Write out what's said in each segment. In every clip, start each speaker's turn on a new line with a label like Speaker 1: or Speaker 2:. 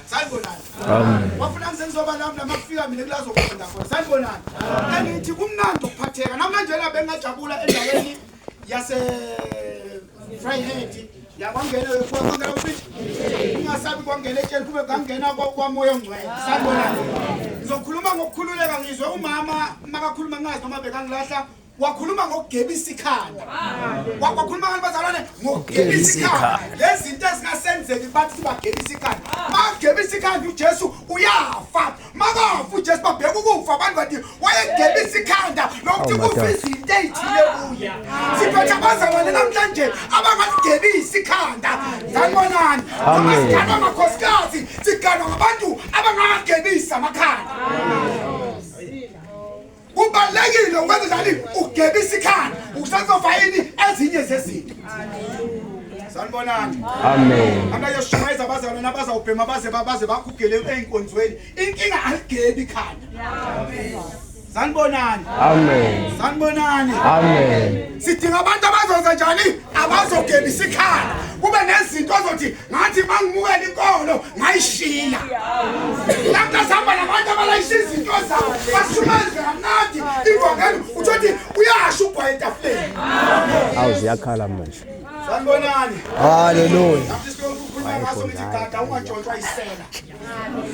Speaker 1: sanibonani wafuna ngize ngizoba lami lama kufika mina kulazoqonda khona sanibonani angithi kumnandi ukuphatheka namanje la bengingajabula endaweni yase Fryhead yakwangena yokuwa kwangena ufithi ungasabi kwangena etsheni kube kangena kwamoya ongcwele sanibonani ngizokhuluma ngokukhululeka ngizwe umama makakhuluma ngazi noma bekangilahla wakhuluma ngokugebisa ikhanda wakhuluma abantu bazalwane ngokugebisa ikhanda lezinto ezingasenzeki bathi sibagebisa ikhanda magebisa ikhanda uJesu uyafa makafa uJesu babheka ukufa abantu bathi wayegebisa ikhanda nokuthi oh kufa izinto ezithile kuye siphethe abazalwane namhlanje abangasigebisi ikhanda sanibonani noma siganwa amakhosikazi siganwa ngabantu abangagebisa amakhanda kubalulekile ukwenza njani ugeba isikhala usazofa yini ezinye zezinto sanibonani amen abayoshumayeza abazalwane abazawubhema baze baze bakhugele ey'nkonzweni inkinga aligebi ikhanda sanibonani amen sanibonani amen sidinga abantu abazoza njani abazogebisa ikhanda kube nezinto ozothi ngathi mangimukela inkolo ngayishiya lapho sihamba nabantu abalayisha izinto zabo bashumayeze kamnandi ivangeli uthothi uyasho ugwaye etafuleni awu
Speaker 2: ziyakhala manje sanibonani
Speaker 1: haleluya
Speaker 2: gada
Speaker 1: ungatshontshwa isela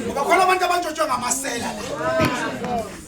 Speaker 1: ngoba khona abantu abantshontshwe ngamasela la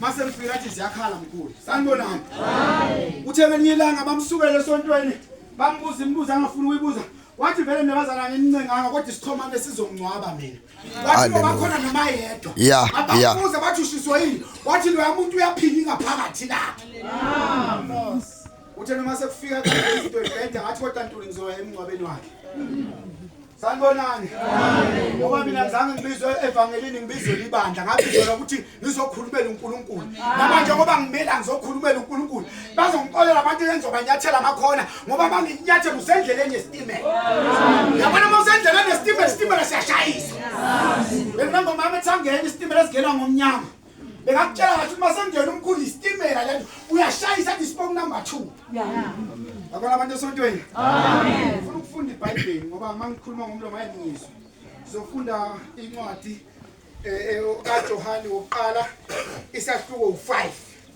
Speaker 1: Mase mfika athi ziyakhala mkhulu. Sanibonani. Uthe ngelinye ilanga bamsukele esontweni bambuza imibuzo angafuni uyibuza. Wathi vele nebazalane enincenganga kodwa isixhomane sizongcwaba mina. Wathi ngoba Hallelujah. khona noma yedwa. Yeah, yeah. Ababuza bathi ushiswa yini? Wathi loya muntu uyaphila ingaphakathi lakhe. Uthe noma sekufika izinto ebheda ngathi kodwa ntuli ngizoya emngcwabeni wakhe. Sanibonani. Ngoba mina ngizange ngibizwe evangelini ngibizwe libandla ngabizela ukuthi ngizokhulumela uNkulunkulu. Namanje ngoba ngimela ngizokhulumela uNkulunkulu. Bazongixolela abantu engizobanyathela amakhona ngoba banginyathela usendleleni yesitimela. Yabona uma usendleleni yesitimela isitimela siyashayisa. Bengingomama ethangeni isitimela singena ngomnyama. Bekakutshela ngathi uma sengena umkhulu isitimela lento uyashayisa athi sibonga number 2. Yeah. Yabona abantu esontweni. Amen. Ngifuna ukufunda iBhayibheli ngoba mangikhuluma ngomlomo ayengizwe. Ngizofunda incwadi eh, eh kaJohane wokuqala isahluko u5.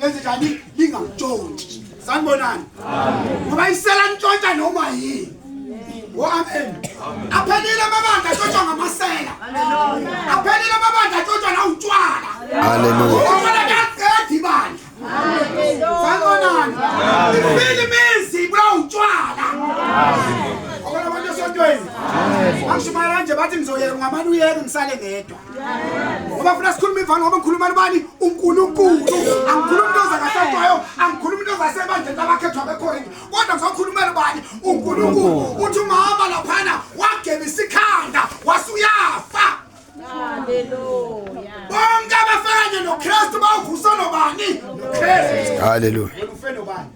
Speaker 1: lenze njani lingangitshontshi sanibonani ngoba isela ntshontsha noma yini o amen aphelile amabandla atshotshwa ngamasela aphelile amabandla atshotshwa nawutshwala haleluya
Speaker 2: kuyaqeda
Speaker 1: ibandla sanibonani iphile imizi ibulawa utshwala okwalabantu esontweni angishumayela nje bathi ngizoyeka ngamane uyeke ngisale ngedwa ngoba funa sikhuluma ivalo ngoba ngikhuluma nibani unkulunkulu angikhulumi into zangasetwayo angikhulumi into zasebandleni labakhethwa bekorinti kodwa ngizokhulumela ubani unkulunkulu uthi umama laphana wagebisa ikhanda wasuyafa bonke abafakanye nokristu bawuvusa nobani nokristu haleluya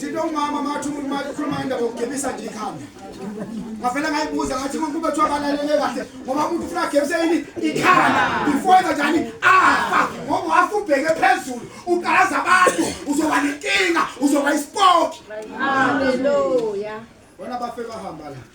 Speaker 1: Thina umama mathi umuntu makhuluma indaba yokugebisa nje ikhanda. Ngavela ngayibuza ngathi umuntu kube kuthiwa balalele kahle ngoba umuntu ufuna agebise yini ikhanda. Ifoyeza njani afa ngoba wafa ubheke phezulu ukalaza abantu uzoba nenkinga uzoba isipoki. Haleluya.
Speaker 3: Bona bafe
Speaker 1: bahamba la.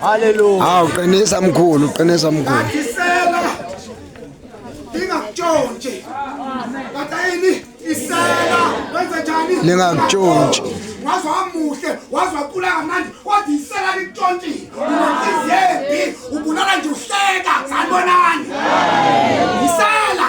Speaker 2: Hallelujah. Hawu qinisa mkhulu, qinisa mkhulu. Ngisela.
Speaker 1: Ingakutshontshe. Batayini isela wenza njani? Ningakutshontshe.
Speaker 2: Waze wamuhle,
Speaker 1: waze waqula kamnandi, wathi isela likutshontshe. Unehliziyembi, ubulala nje uhleka, sanibonani. Isela.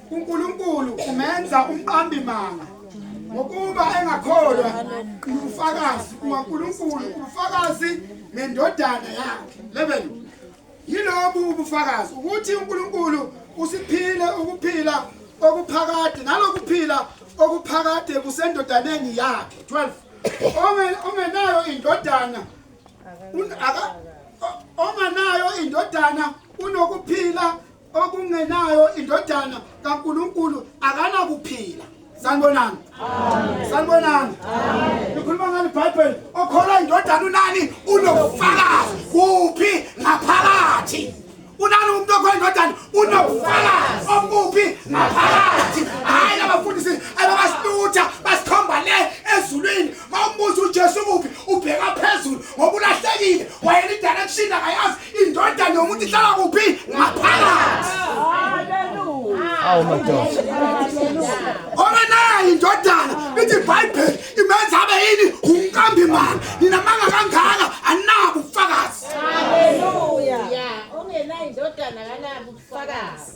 Speaker 1: uNkulunkulu umenza umqambi manga ngokuba engakholwa ubufakazi kukaNkulunkulu ubufakazi nendodana yakhe 11 yilobu ubufakazi ukuthi uNkulunkulu usiphile ukuphila okuphakade nalokuphila okuphakade kusendodaneni yakhe 12 ongenayo indodana aka onganayo indodana unokuphila okungenayo indodana kaNkuluNkulu akanakuphila sanibonani sanibonani ngikhuluma ngani bible okholwa indodana unani unobufakazi kuphi ngaphakathi unani umuntu okholwa indodana unobufakazi obuphi ngaphakathi hhayi labafundisi ababasitutha basikhomba le ezulwini mawumbuza uJesu kuphi ubheka phezulu ngoba ulahlekile wayena idirection akayazi indoda nomuntu ihlala kuphi ngaphakathi awu madoda
Speaker 2: ora nayo
Speaker 1: indodana ithi bible imenza abe yini unkambi mani ninamanga kangaka anabo ubufakazi haleluya
Speaker 3: ongenayo indodana
Speaker 1: kanabo
Speaker 3: ubufakazi